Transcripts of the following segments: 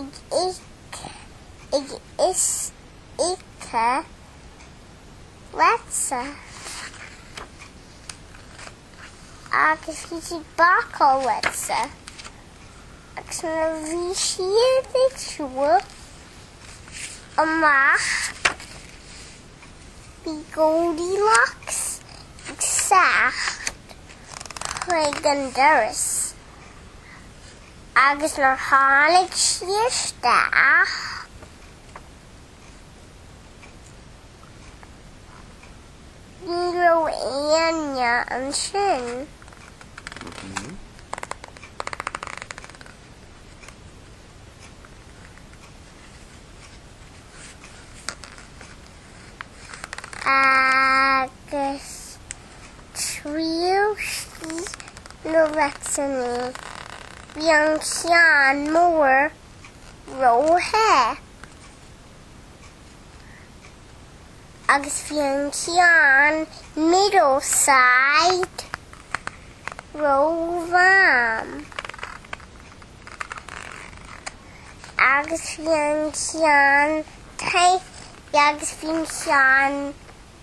ag ithe leite agus bhí siad bácáil leite agus nuair a bhí siad ag siúl amach bhí Goldilocks ag teacht chuig an doras. Agus nuair tháinig sí isteach ní raibh éinne ansin. Agus Thriail sí na leite, bhí an ceann mór róthe agus bhí an ceann middle-size rómham agus bhí an ceann tine agus bhí an ceann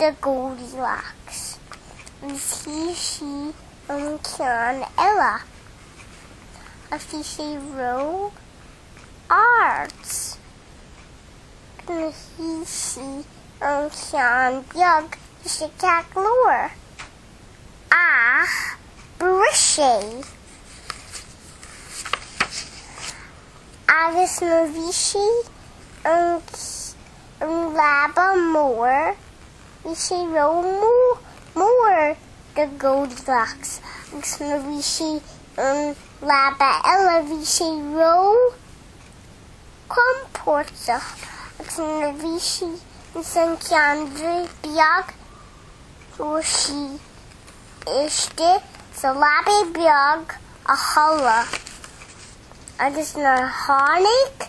do Goldilocks agus shuigh sí an ceann eile agus bhí sé ró-ard. Agus shuigh sí an ceann beag bhí sé ceart go leor. Ach bris sé. Agus nuair bhí sí an an leaba mór, bhí sé ró mór do Goldilocks agus nuair bhí sí an leaba eile bhí sé ró compórtach agus nuair bhí sí in san ceann beag fuair sí isteach sa leaba beag a chodladh agus nuair tháinig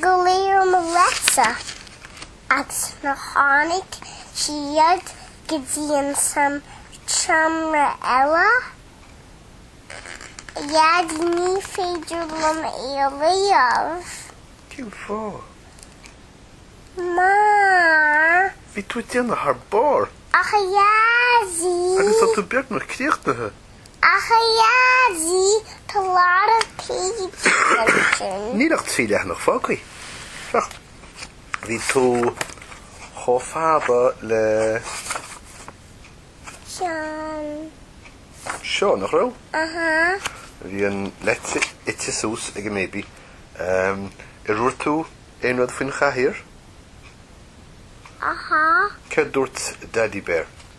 go léir an leite agus nuair tháinig siad go dtí an san tseomra eile, a Dhaidí ní féidir liom é a léamh. Cén fáth? Mar. bhí tú ag déanamh thar barr. Ach a Dhaidí. Agus tá tú beagnach críochnaithe. Ach a Dhaidí, tá a lot of pages ansin. Níl ach trí leathanach fágtha. Bheadh. Bhí tú chomh fada le. Seo. Seo, nach raibh? Aha. Bhí an leite ite suas ag an mBaby. Ehm, ar dhúirt tú aon rud faoin chathaoir? Aha. Céard dúirt Daidí Bear?